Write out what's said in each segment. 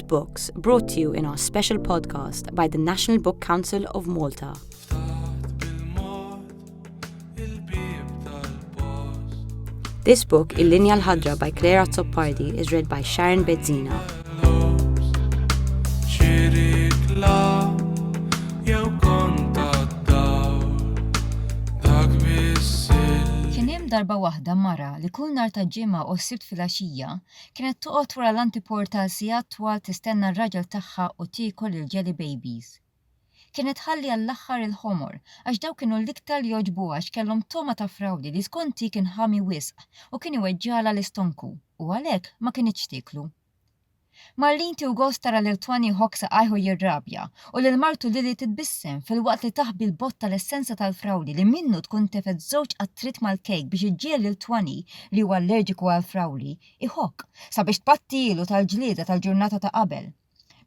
Soft Books brought to you in our special podcast by the National Book Council of Malta. This book, Il-Linja l-Ħadra by Claire Azzopardi, is read by Sharon Bezzina. Kien hemm darba waħda mara li kull nar ta' ġimgħa u s-sibt fil-għaxija Kienet toqgħod wara l-antiporta għal sigħat twal tistenna r-raġel tagħha u tiekol il-jelly babies. Kienet tħalli għall-aħħar il-ħomor għax dawk kienu l-iktar li jogħġbuha għax kellhom togħma ta' frawdi li skont hi kien ħami wisq u kien iweġġagħlha l-istonku u għalhekk ma kinitx tieklu. Marlene tiehu gost tara lil Twanny iħobb saqajh u jirrabja u lil martu Lily titbissem filwaqt li taħbi l-bott tal-essenza tal-frawli li minnu tkun tefgħet żewġ qatriet mal-kejk biex iġġiegħel lil Twanny, li huwa allerġiku għall-frawli, iħokk, sabiex tbattilu tal-ġlieda tal-ġurnata ta' qabel.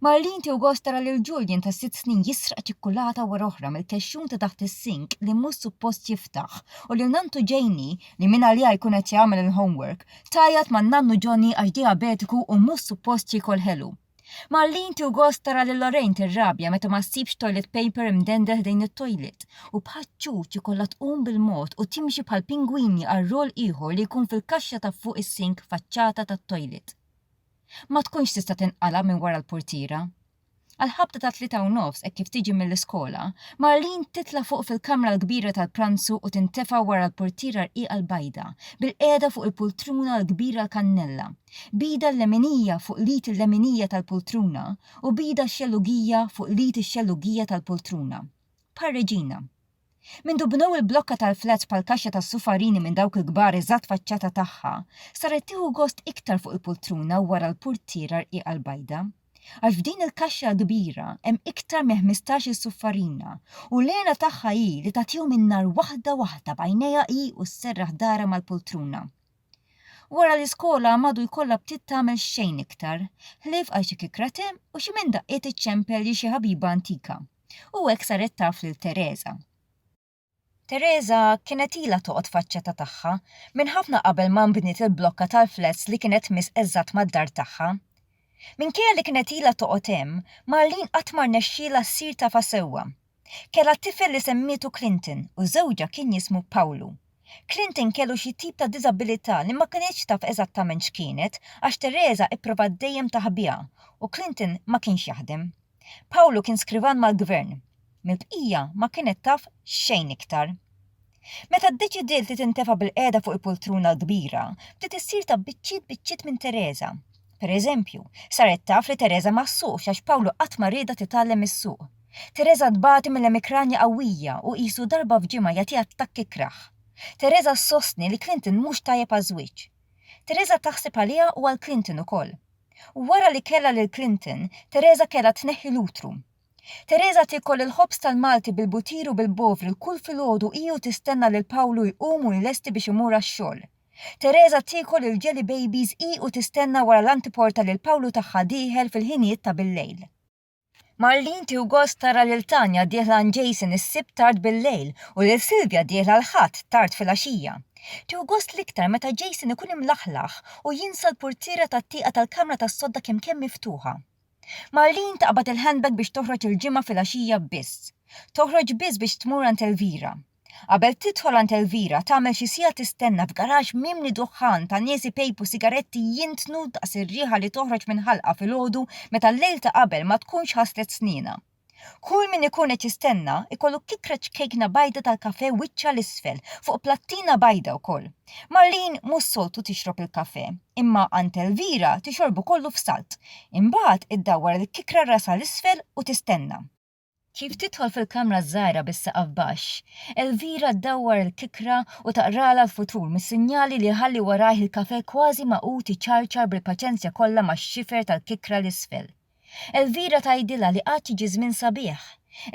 Marlene tieħu gost tara lil Julian ta' sitt snin jisraq ċikkulata wara oħra mill-kexxun ta' taħt is-sink li mhux suppost jiftaħ u lil nanntu Janie, li mingħaliha jkun qed jagħmel il-homework, tgħajjat ma' nannu Johnny għax diabetiku u mhux suppost jiekol ħelu. Marlene tieħu gost tara lil Lorraine tirrabja meta ma ssibx toilet paper imdendel ħdejn it-toilet u bħaċ-ċuċ ikollha tqum bil-mod u timxi bħal pingwini għal rol ieħor li jkun fil-kaxxa ta' fuq is-sink faċċata tat-toilet. Ma tkunx tista' tinqala' minn wara l-purtiera. Għall-ħabta ta' tlieta u nofs hekk kif tiġi mill-iskola, Marlene titla' fuq fil-kamra l-kbira tal-pranzu u tintefa' wara l-purtiera rqiqa l-bajda, bilqiegħda fuq il-pultruna l-kbira l-kannella, Bida l-leminija fuq l-id il-leminija tal-pultruna u bida x-xellugija fuq l-id ix-xellugija tal-pultruna. Bħar-reġina. Mindu bnew il-blokka tal-flats bħall-kaxxa tas-sufarini minn dawk il-kbar eżatt faċċata tagħha, saret tieħu gost iktar fuq il-pultruna wara l-purtiera rqiqa l-bajda. Għax f'din il-kaxxa l-kbira hemm iktar minn ħmistax-il suffarina u l-għena tagħha hi li tagħtihom in-nar waħda waħda b'għajnejha hi u sserraħ darha mal-pultruna. Wara l-iskola madu jkollha btiet tagħmel xejn iktar, ħlief għal xi kikrate u xi minn daqqiet iċ-ċempel li xi ħabiba antika, u hekk saret taf lil Tereża. Tereża kienet ilha toqgħod faċ-ċeta tagħha minn ħafna qabel ma nbniet il-blokka tal-flats li kienet tmiss eżatt mad-dar tagħha. Minkejja li kienet ilha toqgħod hemm, Marlene qatt ma rnexxielha ssir tafha sewwa. Kellha tifel li semmietu Clinton u żewġha kien jismu Pawlu. Clinton kellu xi tip ta' diżabilità li ma kinitx taf eżattament x'kienet għax Teresa ipprovat dejjem taħbiha u Clinton ma kienx jaħdem. Pawlu kien skrivan mal-gvern. Mill-bqija ma kienet taf xejn iktar. Meta ddeċidiet li tintefa' bil-qiegħda fuq il-pultruna l-kbira, bdiet issir ta' biċċiet biċċiet minn Tereża. Pereżempju, saret taf li Tereża ma ssuqx għax Pawlu qatt ma riedha titgħallem issuq. Tereża tbati minn emikranja qawwija u qisu darba f'ġimgħa jagħtiha attakk ikrah. Tereża ssostni li Clinton mhux tajjeb għaż-żwieġ. Tereża taħseb għaliha u għal Clinton ukoll. Wara li kellha lil Clinton, Tereża kellha tneħħi l-utru. Tereża tiekol il-ħobż tal-Malti bil-butir u bil-bovri l-kull filgħodu hi u tistenna lil Pawlu jqum u jlesti biex imur għax-xogħol. Tereża tiekol il-jelly babies hi u tistenna wara l-antiporta lil Pawlu tagħha dieħel fil-ħinijiet ta' bil-lejl. Marlene tieħu gost tara lil Tanya dieħla għand Jason is-Sibt tard bil-lejl u lil Sylvia dieħla l-Ħadd tard filgħaxija. Tieħu gost l-iktar meta Jason ikun imlaħlaħ u jinsa l-purtiera tat-tieqa tal-kamra tas-sodda kemm kemm miftuħa. Marlene taqbad il-handbag biex toħroġ il-Ġimgħa filgħaxija biss. Toħroġ biss biex tmur għand Elvira. Qabel tidħol għand Elvira, tagħmel xi siegħa tistenna f'garaxx mimli duħħan ta' nies ipejpu sigaretti jintnu daqs ir-riħa li toħroġ minn ħalqa filgħodu meta l-lejl ta' qabel ma tkunx ħaslet snienha. Kull min ikun qed jistenna ikollu tikra ċkejkna bajda tal-kafè wiċċha 'l isfel, fuq plattina bajda wkoll. Marlene mhux soltu tixrob il-kafè, imma għand Elvira tixorbu kollu f'salt. Imbagħad iddawwar il-kikra rasha 'l isfel u tistenna. Kif tidħol fil-kamra ż-żgħira bis-saqaf baxx, Elvira ddawwar il-kikra u taqralha l-futur mis-sinjali li jħalli warajh il-kafè kważi magħqud iċarċar bil-paċenzja kollha max-xifer tal-kikra 'l isfel. Elvira tgħidilha li għad jiġi żmien sabiħ.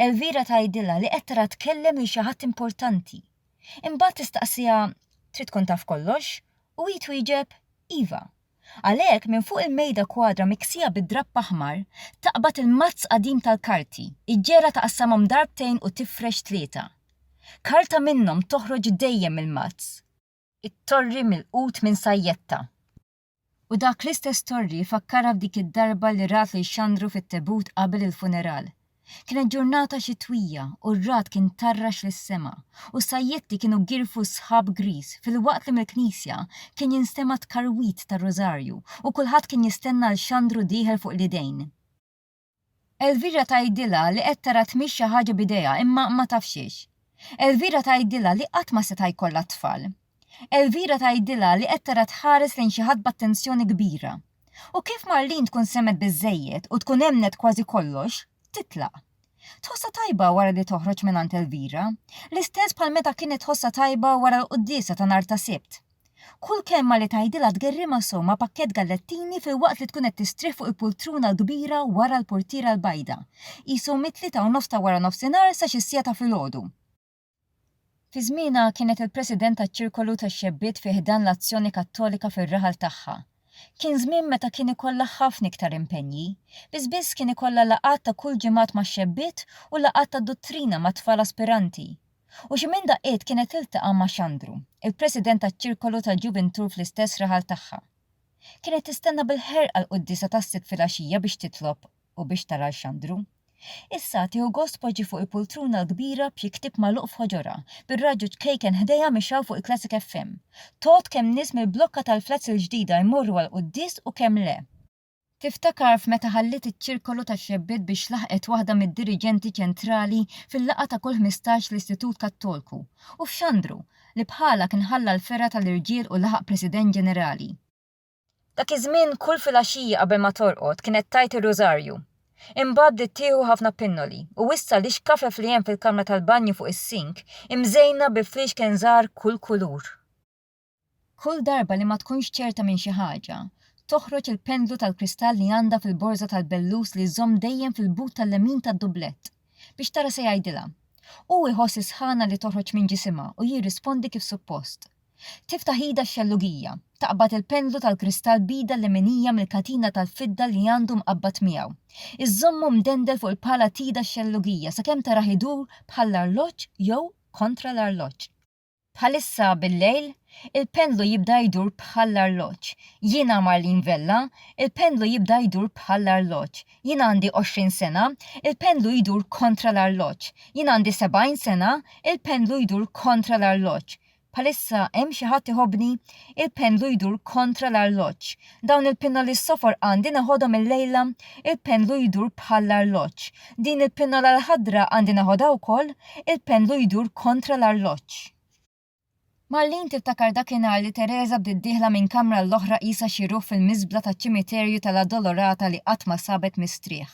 Elvira tgħidilha li qed tara tkellem lil xi ħadd importanti. Imbagħad tistaqsiha, Trid tkun taf kollox? u hi twieġeb, Iva. Għalhekk, minn fuq il-mejda kwadra miksija bid-drapp aħmar, taqbad il-mazz qadim tal-karti, iġġegħlha taqassamhom darbtejn u tifrex tlieta. Karta minnhom toħroġ dejjem mill-mazz. It-torri milqut minn sajjetta. U dak l-istess torri fakkarha f'dik id-darba li rat lil Xandru fit-tebut qabel il-funeral. Kienet ġurnata xitwija u r-ragħad kien tarrax lis-sema, u s-sajjetti kienu girfu s-sħab griż filwaqt li mill-knisja kien jinstema' t-tkarwid tar-rużarju u kulħadd kien jistenna 'l Xandru dieħel fuq l-idejn. Elvira tgħidilha li qed tara tmix xi ħaġa b'idejha imma ma taf x'hix. Elvira tgħidilha li qatt ma seta' jkollha t-tfal. Elvira tgħidilha li qed tara tħares lejn xi ħadd b'attenzjoni kbira. U kif Marlene tkun semgħet biżżejjed u tkun emmnet kważi kollox, titlaq. Tħossha tajba wara li toħroġ mingħand Elvira, l-istess bħal meta kienet tħossha tajba wara l-quddiesa ta' nhar ta' Sibt. Kull kelma li tgħidilha tgerrimha sew ma' pakkett gallettini filwaqt li tkun qed tistrieħ fuq il-pultruna l-kbira wara l-portiera l-bajda. Qisu mit-tlieta u nofs ta' waranofsinhar sa xi siegħa ta' filgħodu. Fi żmienha kienet il-President taċ-Ċirkolu tax-Xebbiet fi ħdan l-Azzjoni Kattolika fir-raħal tagħha. Kien żmien meta kien ikollha ħafna iktar impenji. Biss biss kien ikollha laqgħat ta' kull ġimgħat max-xebbiet u laqgħat tad-duttrina mat-tfal aspiranti. U xi minn daqqiet kienet tiltaqa' ma' Xandru, il-president taċ-ċirkolu tal-ġuvintur fl-istess raħal tagħha. Kienet tistenna bil-ħerqa l-quddiesa tas-Sibt filgħaxija biex titlob u biex tara 'l Xandru. Issa, tieħu gost tpoġġi fuq il-pultruna l-kbira b'xi ktieb magħluq f'ħoġorha, bir-radju ċkejken ħdejha mixgħul fuq il-Classic FM. Tgħodd kemm nies mill-blokka tal-flats il-ġdida jmorru għall-quddies u kemm le. Tiftakar f'meta ħalliet iċ-ċirkolu tax-xebbiet biex laħqet waħda mid-diriġenti ċentrali fil-laqgħa ta' kull ħmistax l-Istitut Kattolku, u f'Xandru, li bħalha kien ħalla l-fergħa tal-irġiel u laħaq President Ġenerali. Dak iż-żmien kull filgħaxija qabel ma torqod kienet tgħid ir-Rużarju. Imbagħad bdiet tieħu ħafna pinnoli, u issa l-ixkafef li hemm fil-kamra tal-banju fuq is-sink imżejna bi fliexken żgħar kull kulur. Kull darba li ma tkunx ċerta minn xi ħaġa, toħroġ il-pendlu tal-kristall li għandha fil-borża tal-bellus li żżomm dejjem fil-but tal-lemin tad-dublett, biex tara se jgħidilha. Hu jħoss is-sħana li toħroġ minn ġisimha u jirrispondi kif suppost. Tiftaħ idha x-xellugija, taqbad il-pendlu tal-kristall b'idha l-leminija mill-katina tal-fidda li għandu mqabbad miegħu. Iżżommu mdendel fuq il-pala t'idha x-xellugija sakemm tarah idur bħall-arloġġ jew kontra l-arloġġ. Bħalissa bil-lejl, il-pendlu jibda jdur bħall-arloġġ. Jiena Marlene Vella, il-pendlu jibda jdur bħall-arloġġ. Jien għandi 20 sena, il-pendlu jdur kontra l-arloġġ. Jien għandi 70 sena, il-pendlu jdur kontra l-arloġġ. Bħalissa hemm xi ħadd iħobbni? Il-pendlu jdur kontra l-arloġġ. Dawn il-pinnoli s-sofor għandi neħodhom il-lejla? Il-pendlu jdur bħall-arloġġ. Din il-pinnola l-ħadra għandi neħodha wkoll? Il-pendlu jdur kontra l-arloġġ. Marlene tiftakar dakinhar li Teresa bdiet dieħla minn kamra l-oħra qisha xi ruħ fil-miżbla taċ-ċimiterju tal-Addolorata li qatt ma sabet mistrieħ.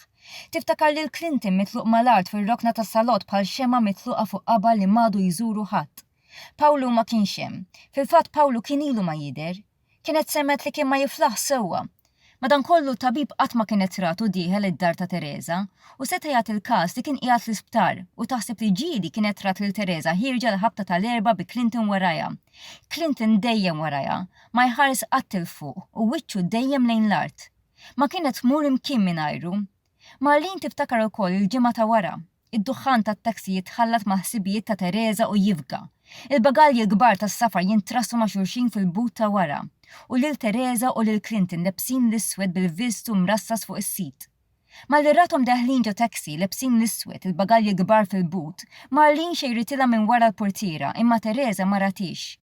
Tiftakar lil Clinton mitluq mal-art fir-rokna tas-salott bħal xemgħa mitluqa fuq qaba li m'għadu jżuru ħadd. Pawlu ma kienx hemm. Fil-fatt Pawlu kien ilu ma jidher. Kienet semgħet li kien ma jiflaħx sewwa. Madankollu, tabib qatt ma kienet ratu dieħel id-dar ta' Tereża, u seta' jagħti l-każ li kien qiegħed fl-isptar u taħseb li ġieli kienet rat lil Tereża ħierġa l-ħabta ta' l-erbgħa bi Clinton warajha. Clinton dejjem warajha, ma jħares qatt 'il fuq u wiċċu dejjem lejn l-art. Ma kienet tmur imkien mingħajru. Marlene tiftakar ukoll il-ġimgħa ta' wara. Id-duħħan tat-taxi jitħallat mal-ħsibijiet ta' Teresa u jifga. Il-bagalji l-kbar tas-safar jintrassu ma' xulxin fil-but ta' wara. U lil Teresa u lil Clinton lebsin l-iswed bil-viżtu mrassas fuq is-sid. Malli rathom deħlin ġo taxi, lebsin l-iswed, il-bagalji kbar fil-but, Marlene xejritilha minn wara l-purtiera imma Teresa ma ratiex.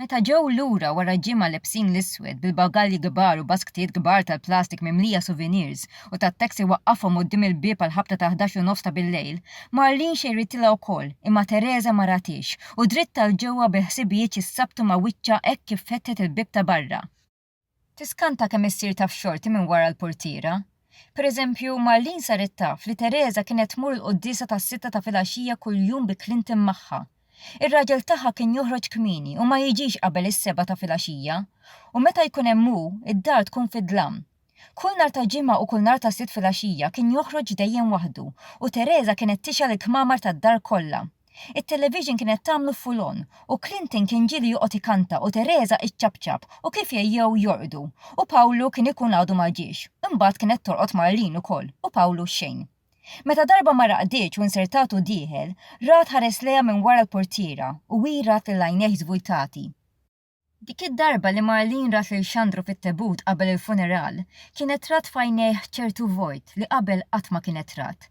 Meta ġew lura wara ġimgħa lebsin l-iswed bil-bagalji kbar u basktijiet kbar tal-plastik mimlija souvenirs u tat-taxi waqqafhom quddiem il-bieb għall-ħabta tal-ħdax u nofs ta' billejl. Marlene xejritilha wkoll, imma Teresa ma ratiex u dritt għal ġewwa bil-ħsibijiet xi ssabtu ma' wiċċha hekk kif fetħet il-bieb ta' barra. Tiskanta kemm issir taf xorti minn wara l-purtiera. Per eżempju, Marlene saret taf li Teresa kienet tmur il-quddiesa tas-sitta ta' filgħaxija kuljum bi Clinton magħha. Ir-raġel tagħha kien joħroġ kmieni u ma jiġix qabel is-sebgħa ta' filgħaxija. U meta jkun hemm hu, id-dar tkun fid-dlam. Kull nhar ta' Ġimgħa u kull nhar ta' Sitt filgħaxija kien joħroġ dejjem waħdu u Teresa kienet tixgħel il-kmamar tad-dar kollha. It-television kienet tagħmlu full on u Clinton kien ġieli joqgħod ikanta u Teresa iċċapċap u kif jgħejjew jorqdu u Pawlu kien ikun għadu ma ġiex. Imbagħad kienet torqod Marlene ukoll u Pawlu xejn. Meta darba ma raqditx u nsertatu dieħel, Rad ħares lejha minn wara l-portiera u hi rat lil għajnejh żvujtati. Dik id-darba li Marlene rat lil Xandru fit-tebut qabel il-funeral, kienet rat f'għajnejh ċertu vojt li qabel qatt ma kienet rat.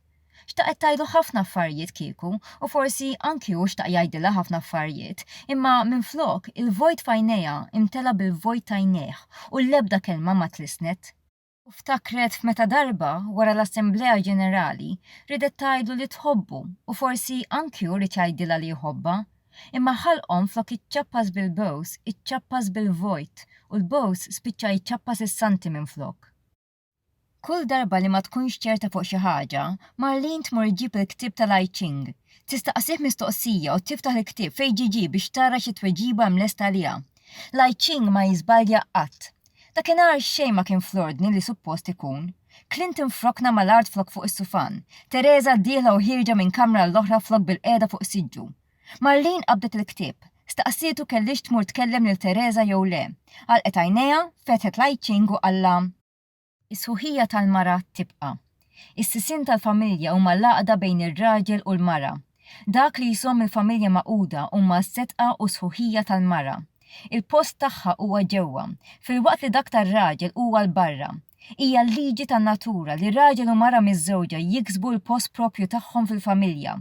Xtaqet tgħidlu ħafna affarijiet kieku u forsi anki hu xtaq jgħidilha ħafna affarijiet, imma minflok, il-vojt f'għajnejha imtela' bil-vojt t'għajnejh u l-ebda kelma ma tlissnet. u ftakret f'meta darba wara l-Assemblea Ġenerali ridet tgħidlu li tħobbu u forsi anki hu ried jgħidilha li jħobbha, imma ħalqhom flok jiċċappas bil-bows iċċappas bil-vojt u l-bows spiċċa jċappas is-santi minflok. Kull darba li ma tkunx ċerta fuq xi ħaġa, Marlene tmur iġġib il-ktieb tal-I Ching. Tistaqsih mistoqsija u tiftaħ il-ktieb fejn ġiġi biex tara xi tweġiba hemm lesta għaliha. Lai Ching ma jiżbalja qatt. Dakinhar xejn ma kien fl-ordni li suppost ikun. Clinton frokna mal-art flok fuq is-sufan, Teresa dieħla u ħierġa minn kamra għall-oħra flok bilqiegħda fuq siġġu. Marlene qabdet il-ktieb. Staqsietu kellhiex tmur tkellem lil Teresa jew le. Għalqet għajnejha, fetħet Lai Ching u qallha, Is-sħuħija tal-mara tibqa'. Is-sisien tal-familja huma l-għaqda bejn ir-raġel u l-mara. Dak li jżomm il-familja magħquda huma s-setqa u s-sħuħija tal-mara. Il-post tagħha huwa ġewwa, filwaqt li dak tar-raġel huwa 'l barra. Hija l-liġi tan-natura li raġel u mara miżżewġa jiksbu l-post proprju tagħhom fil-familja.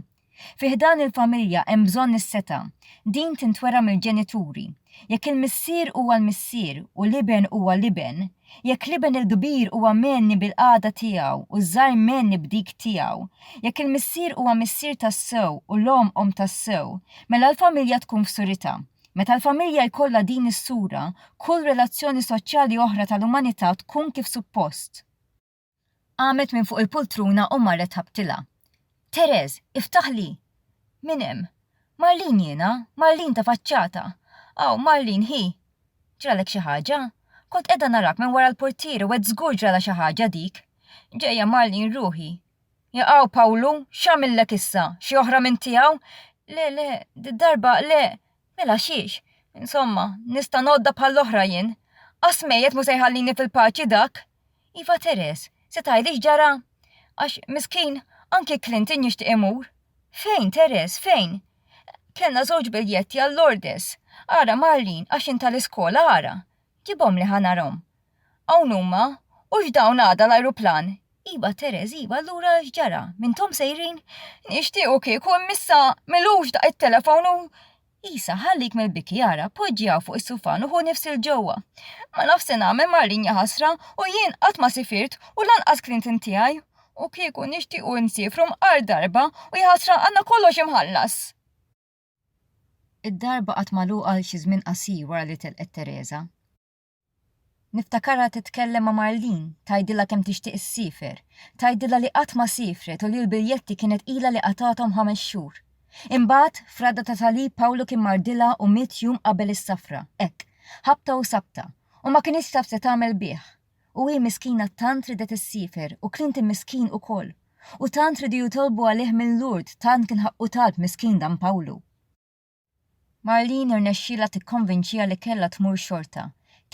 Fi ħdan il-familja hemm bżonn is-setgħa. Din tintwera mill-ġenituri. Jekk il-missier huwa l-missier u l-iben huwa l-iben, jekk l-iben il-kbir huwa mgħenni bil-qagħda tiegħu u ż-żgħir mgħenni b'dik tiegħu, jekk il-missier huwa missier tassew u l-omm omm tassew, mela l-familja tkun f'surità. Meta l-familja jkollha din is-sura, kull relazzjoni soċjali oħra tal-umanità tkun kif suppost. Qamet minn fuq il-pultruna u marret ħabtilha. Tereż, iftaħli! Min hemm? Marlin jiena, Marlin ta' faċċata. Aw, Marlin, hi! Ġralek xi ħaġa? Kont qiegħda narak minn wara l-portiere u għedt żgur ġralha xi ħaġa dik. Ġejja, Marlin, ruħi. Jaqaw, Pawlu, x'għamillek issa? Xi oħra minn tiegħu? Le, le, did-darba le. Mela xiex? Insomma, nista' ngħoddha bħall-oħra jien. Qas mejjet mhu se jħallini fil-paċi dak! Iva Teres, se tgħidli x'ġara? Għax, miskin, anki Clinton jixtieq imur. Fejn, Teres, fejn? Kellna żewġ biljetti għal Lourdes. Ara, Marlene, għax int tal-iskola, ara. Ġibhomli ħa narahom. Hawn huma. Hux dawn għada l-ajruplan? Iva Teres, iva, allura x'ġara? M'intom sejrin? Nixtiequ kieku, imm'issa, m'ilux daq it-telefon u. Isa, ħallik mill-biki ara, poġġi hawn fuq is-sufan u ħu nifs il ġewwa. Ma nafx se nagħmel Marin ja ħasra u jien qatt ma sifirt u lanqas klint in tiegħi. U kieku nixtiequ insiefru mqar darba u ja ħasra għandna kollox imħallas! Id-darba qatt magħluqa għal xi żmien qasir wara li telqet Teresa. Niftakarha titkellem ma' Marlene, tgħidilha kemm tixtieq issiefer. Tgħidilha li qatt ma siefret u li l-biljetti kienet ilha li qatgħathom ħames xhur. Imbagħad, f'ragħda ta' salib Pawlu kien mardilha u miet jum qabel is-safra, hekk, ħabta u sabta, u ma kinitx taf se tagħmel bih. U hi miskina tant ridet issiefer u Clinton miskin ukoll. U tant ridu jitolbu għalih minn Lourdes, tant kien ħaqqu talb miskin dan Pawlu. Marlene irnexxielha tikkonvinċiha li kellha tmur xorta.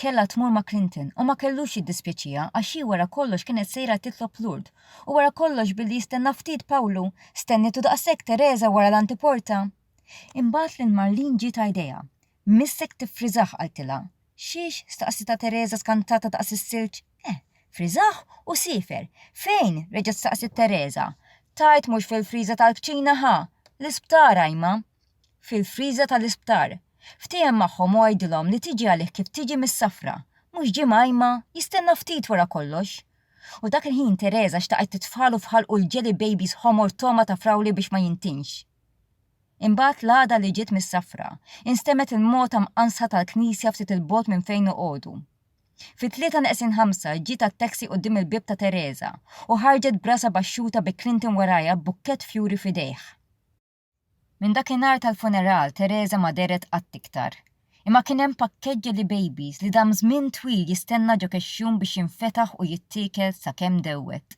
Kellha tmur ma' Clinton u ma kellux jiddispjaċiha għax hi wara kollox kienet sejra titlob Lourdes u wara kollox billi jistenna ftit Pawlu, stennietu daqshekk Tereża wara l-antiporta! Imbagħad lil Marlene ġietha idea. Missek tiffriżah qaltilha. Xiex? staqsitha Tereża skantata daqs is-silġ. Eh, friżah u siefer. Fejn? reġgħet staqsiet Tereża. Tgħid mhux fil-friża tal-kċina ħa! L-isptar, għajma! Fil-friża tal-isptar. Ftiehem magħhom u għidilhom li tiġi għalih kif tiġi mis-safra. Mhux ġimgħa, għajma? Jistenna ftit wara kollox. U dak il-ħin Tereża xtaqet titfalu f'ħalqu l-jelly babies ħomor togħma ta' frawli biex ma jintinx. Imbagħad l-għada li ġiet mis-safra, instemgħet il-mogħta mqansa tal-knisja ftit 'il bogħod minn fejn noqogħdu. Fit-tlieta neqsin ħamsa ġiet għat-taxi quddiem il-bieb ta' Teresa u ħarġet b'rasha baxxuta bi Clinton warajha b'bukkett fjuri f'idejh. Minn dakinhar tal-funeral Teresa ma dehret qatt iktar. Imma kien hemm pakkett jelly babies li dam żmien twil jistenna ġo kexxun biex jinfetaħ u jittiekel sakemm dewwet.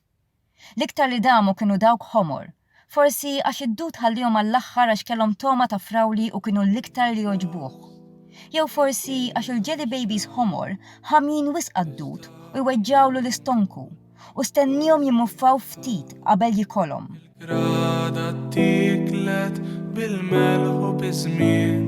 L-iktar li damu kienu dawk ħomor. Forsi għax id-dud ħalliehom għall-aħħar għax kellhom togħma ta' frawli u kienu l-iktar li jogħġbuh. Jew forsi għax il-jelly babies ħomor ħamjin wisq għad-dud u jweġġgħulu l-istonku u stenniehom jimmuffaw ftit qabel jikolhom. Ragħda tieklet bil-melħ u biż-żmien.